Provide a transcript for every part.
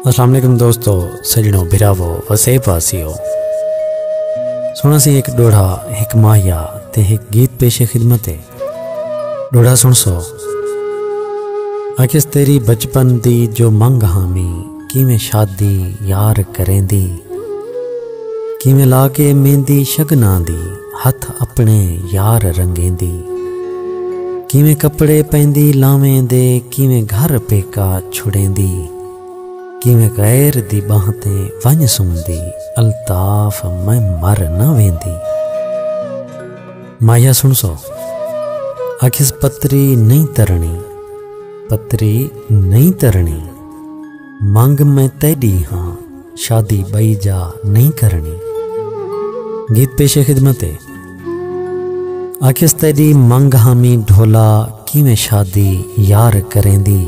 السلام علیکم دوستو سجنو بھراو وسے پاسیو سونا سی ایک ڈوڑا ایک ماہیا تے ایک گیت پیش خدمت ہے ڈوڑا سن سو اکس تیری بچپن دی جو منگ ہامی کیویں شادی یار کریندی کیویں لا کے میندی شگناں دی ہتھ اپنے یار رنگیندی کیویں کپڑے پیندی لاویں دے کیویں گھر پیکا چھڑیندی کیویں غیر دی بانہہ تے ونج سمدی الطاف میں مر نہ ویندی مایا سن سو اکھس پتری نہیں ترنی پتری نہیں ترنی منگ میں تیڈی ہاں شادی بئی جا نہیں کرنی گیت پیش خدمت ہے آکھیس تیڈی منگ ہامی ڈھولا کیویں شادی یار کریں دی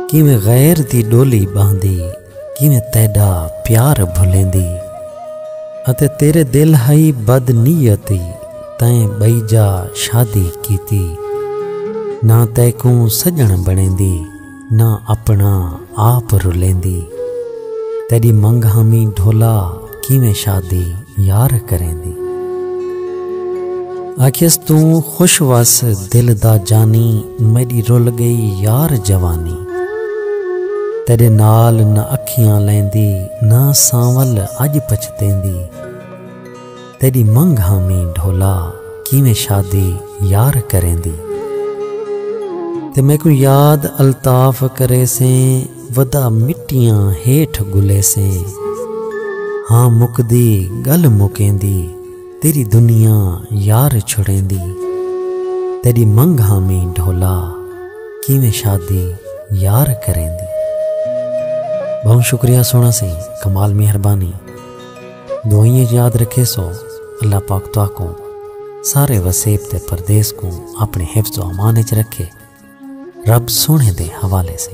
کیویں غیر دی ڈولی باندھی کیویں تیڈا پیار بھلیں دی اتے تیرے دل ہائی بد نیتی تائیں بئی جا شادی کیتی نہ تیکوں سجن بنیں دی نہ اپنا آپ رلیندی تیری منگ ہمی ڈھولا کیویں شادی یار کریں دی آکھیس تو خوش وس دل دا جانی میری رول گئی یار جوانی تیرے نال نہ اکھیاں لیندی نہ سانول اج پچھتیں دی تیݙی منگھ ہامی ڈھولا کیویں شادی یار کریندی تے میکوں یاد الطاف کریسیں ودا مٹیاں ہیٹھ گھلیسیں ہاں مکدی گل مکیندی تیݙی دنیا یار چھڑیندی تیݙی منگھ ہامی ڈھولا کیویں شادی یار کریندی بہوں شکریہ سونا سی کمال مہربانی دعائیں اچ یاد رکھے سو اللہ پاک تہاکوں سارے وسیب تے پردیس کوں اپنے حفظ و امان اچ رکھے رب سونے دے حوالے سے